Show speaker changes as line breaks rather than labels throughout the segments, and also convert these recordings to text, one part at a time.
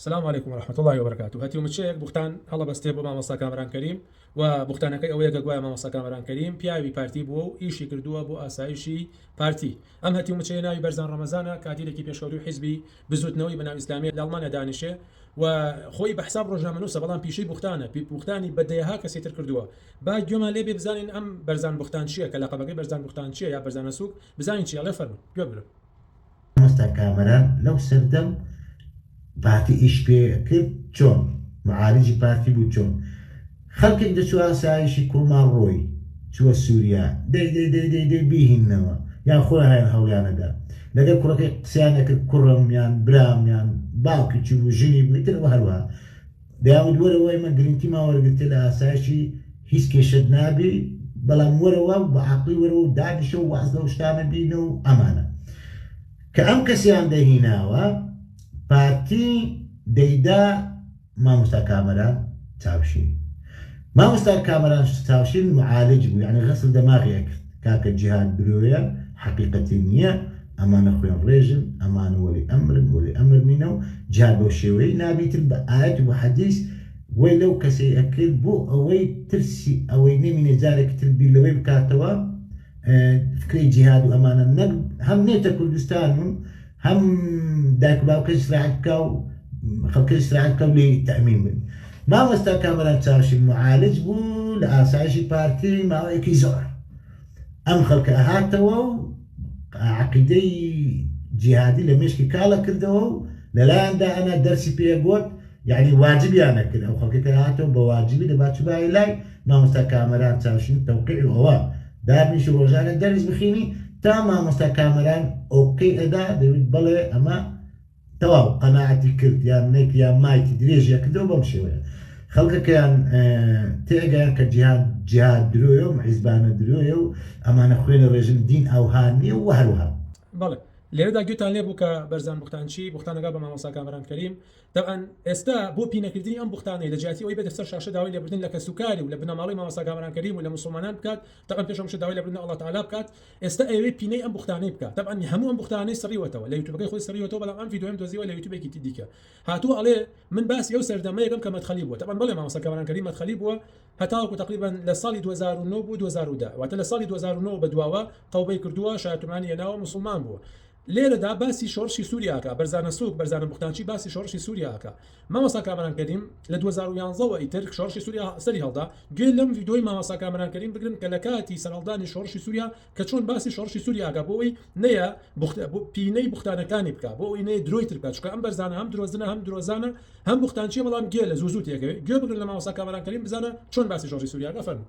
سلام علیکم و رحمت اللە و برکاته هەتیو مچەیەک بوختان هەڵەبەستێ بۆ مامۆستا کامەران کەریم و بوختانەکەی ئەوەیە کە گوایە مامۆستا کامەران کەریم پیاوی پارتی بووە و ئیشی کردووە بۆ ئاسایشی پارتی ئەم هەتیو مچەیە ناوی بەرزان ڕەمەزانە کادیرێکی پێشکەوتووی حیزبی بزووتنەوەی بەناو ئیسلامیە لە ئەڵمانیا دانیشێ و خۆی بە حساب ڕۆژنامەنووسە بەڵام پیشەی بوختانە پی بوختانی بە دەیەها کەسی تر کردووە با گوێمان لێ بێ بزانین ئەم بەرزان بوختان چییە کە لەقەبەکەی بەرزان بوختان چییە یا بەرزانە سووک بزانین چییە لێ فەرموون گوێ بگرن مامۆستا
کامەران لەو سەردەم پارتی ئیش پێ کرد چۆن معالجی پارتی بوو چۆن خەڵکێک دەچوو ئاسایشی کوڕماڵ ڕۆی چووە سووریا دەی دەی دەی دەی دەی بیهینەوە یان خۆیان هەیان هەوڵیانەدا لەگەڵ کوڕەکەی قسەیان نەکرد کوڕم یان برام یان باوکی چی بوو ژنی بوو ئیتر ئەوە هەروە داود وەرە وای مە گرنتی ما وەرگرتە لە ئاسایشی هیچ کێشەت نابی بەڵام وەرە وا و بە عاقلی وەرە و دانیشە و واز لەو شتانە بینە و ئەمانە کە ئەم کەسیان دەهیناوە پارتی دەیدا مامۆستا کامەران چاوشین مامۆستا کامەران چاوشین معالج بوو یعنی غسل دەماغی ئەکرد کاکە جیهاد برۆیە حەقیقەتی نیە ئەمانە خوێن ڕێژن ئەمان وەلی ئەمرن وەلی ئەمر نینە و جیهاد بەو شێوەیەی نابیتن بە ئایەت و حەدیس وەی لەو کەسەی ئەکرد بۆ ئەوەی ترسی ئەوەی نەمینێ جارێکی تر بیر لەوەی بکاتەوە فکرەی جیهاد و ئەمانە نەک هەم نێتە کوردستان و هەم دایک و باوکە سراحەت بکە و خەڵکە سراحەت بکە و لێ تەمین بن مامۆستا کامەران چاوشی معالج بوو لە ئاسایشی پارتی ماوەیەکی زۆر ئەم خەڵکە هاتەوە و عقیدەی جیهادی لە مشکی کاڵە کردەوە و لەلایەندا ئەنا دەرسی پێگوت یەعنی واجبیان ئەکرد ئەو خەڵکە کە هاتەوە بە واجبی دەبا چوبایە لای مامۆستا کامەران چاوشین تەوقیع و ئەوە دابنیشی ڕۆژانە دەرس بخینی تا مامۆستا کامەران ئۆکەی ئەدا دەوت بەڵێ ئەمە تەواو قەناعەتی کرد یان نەیت یان مایتی درێژی ئەکردەوە بەم شێوەیە خەڵکەکەیان تێگەیان کە جیهان جیهاد درۆیە و حیزبانە درۆیە و ئەمانە خوێنە ڕێژم دین ئەوها نییە و هەروها بەڵێ
لێرەدا گوێتان لێ بوو کە بەرزان بوختانچی بوختانەکە بە مامۆستا کامەران کەریم تەبعەن ئێستا بۆ پینەکردنی ئەم بوختانەی لە جیاتی ئەوەی بێتە سەر شاشە داوای لێبوردن لە کەس و کاری و لە بنەماڵەی مامۆستا کامەران کەریم و لە موسڵمانان بکات تەبعەن پێش هەمووشی داوای لێبوردن لە اللە تعالی بکات ئێستا ئەیەوێ پینەی ئەم بوختانەی بکات تەبعەن هەموو ئەم بوختانەی سڕیوەتەوە لە یوتوبەکەی خۆی سڕیوەتەوە بەڵام ئەم ڤیدیۆیەم دۆزیوە لە یوتوبێکی دیکە هاتووە ئەڵێ من باسی ئەو سەردەمەیەکەم کە مەدخەلی بووە تەبعەن بەڵێ مامۆستا کامەران کەریم مەدخەلی بووە هەتاوەکو تەقریبەن لە ساڵی دوو هەزار و نۆ بۆ دوو هەزار و دە واتە لە ساڵی دوو هەزار و نۆ بەدواوە تەوبەی کردووە شایەتومانی هێناوە موسڵمان بووە لێرەدا باسی شۆڕشی سوریا ئەکا بەرزانە سوک بەرزانە بوختانچی باسی شۆڕشی سوریا ئەکا مامۆستا کامەران کەریم لە دوو هەزار و یازدە وە ئیتر شۆڕشی سوریا سەری هەڵدا گوێ لەم ڤیدۆی مامۆستا کامەران کەریم بگرن کە لە کاتی سەرهەڵدانی شۆڕشی سوریا کە چۆن باسی شۆڕشی سوریا ئەکا بۆ ئەوەی نەیە بوخت پینەی بوختانەکانی بکا بۆ ئەوەی نەیە درۆی تر بکا چونکە ئەم بەرزانە هەم درۆزنە هەم درۆزانە هەم بوختانچیە بەڵام گێلە زوو زوو تێگەوێ گوێ بگرن لە مامۆستا کامەران کەریم بزانە چۆن باسی شۆڕشی سوریا ئەکا فەرموو.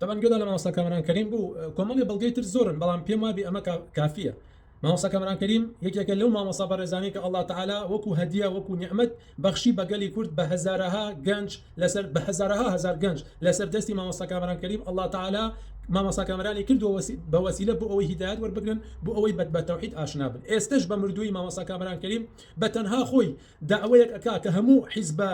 تەبەن گوێدان
لە مامۆستا کامەران کەریم بوو کۆمەڵی بەڵگەی تر زۆرن بەڵام پێم وابی ئەمە کافیە مامۆستا کامەران کەریم یەکێکە لەو مامۆستا بەڕێزانی کە اللە تعالی وەکو هەدیە وەکو نیعمەت بەخشی بە گەلی کورد بە هەزارەها گەنج لەسەر بە هەزارەها هەزار گەنج لەسەر دەستی مامۆستا کامەران کەریم اللە تعالی مامۆستا کامەرانی کردووە بە وەسیلە بۆ ئەوەی هیدایەت وەربگرن بۆ ئەوەی بەت بە تەوحید ئاشنا بن ئێستەش بە مردووی مامۆستا کامەران کەریم بە تەنها خۆی داوەیەک ئەکا کە هەموو حیزبە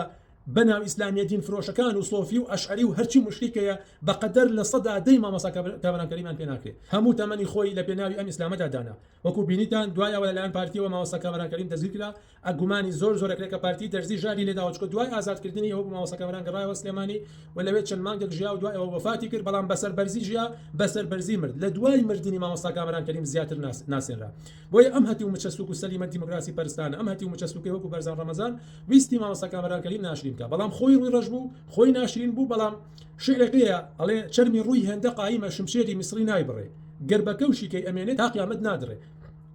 بەناو ئیسلامیە دین فرۆشەکان و سۆفی و ئەشعەری و هەرچی موشریکەیە بەقەدەر لە سەدا دەی مامۆستا کامەران کەریمان پێ ناکرێ هەموو تەمەنی خۆی لە پێناوی ئەم ئیسلامەدا دانا وەکو بینیتان دوای ئەوە لەلایەن پارتیەوە مامۆستا کامەران کەریم دەستگیر کرا ئە گومانی زۆر زۆرە کرێ کە پارتی دەرزی ژاری لێداوە چکە دوای ئازاد کردنی ئەو مامۆستا کامەران گەڕایەوە سلێمانی و لەوێ چەند مانگێک ژیا و دوای ئەوە وەفاتی کرد بەڵام بەسەر بەرزی ژیا بەسەر بەرزی مرد لە دوای مردنی مامۆستا کامەران کەریم زیاتر ناسێنرا بۆیە ئەم هەتیو مچە سوک و سەلیمە دیموکراسی پەرستانە ئەم هەتیو مچە سوکەی وەکو بەرزان ڕەمەزان ویستی مامۆستا کامەران کەریم ناشرین بکا بەڵام خۆی ڕوی ڕەش بوو خۆی ناشرین بوو بەڵام شعرێک لێیە ئەڵێ چەرمی ڕوی هێندە قایمە شمشێری میسڕی نایبڕێ گەر بە کەو شیکەی ئەمێنێ تا قیامەت نادڕێ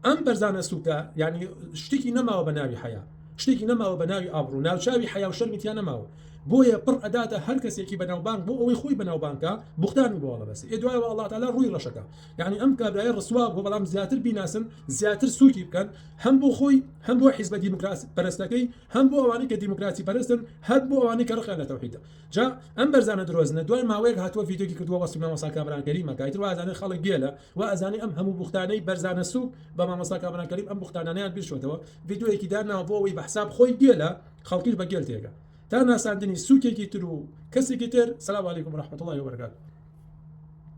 ئەم بەرزانە سوکە یانی شتێکی نەماوە بە ناوی حەیا شتێکی نەماوە بە ناوی ئابڕوو ناوچاوی حەیا و شەرمی تیا نەماوە بۆیە پڕ ئەداتە هەر کەسێکی بەناوبانگ بۆ ئەوەی خۆی بەناوبانگکا بوختان و بۆڵە بەسێ دوایەوە ئەڵڵا تەعالا ڕوی ڕەشەکا یانی ئەم کابرایە ڕسوا بوو بەڵام زیاتر بیناسن زیاتر سوکی بکەن هەم بۆ خۆی هەم بۆ حیزبە دیموکراسی پەرستەکەی هەم بۆ ئەوانەی کە دیموکراسی پەرستن هەر بۆ ئەوانەی کە ڕقیان لە تەوحیدە جا ئەم بەرزانە درۆزنە دوای ماوەیەک هاتووە ڤیدیۆی کردووە وەسفی مامۆستا کامەران کەریمە کە ئیتر وازانێ خەڵک گێلە و ئەزانێ ئەم هەموو بوختانەی بەرزانە سوک بە مامۆستا کامەران کەریم ئەم بوختانانەیان بیرچۆتەوە ڤیدیۆیەکی داناوە بۆ ئەوەی بە حساب خۆی گێلە خەڵکیش بە گێل تێگە تا ناساندنی سوکێکی تر و کەسێکی تر سلام علیکم ورحمة الله وبرکاته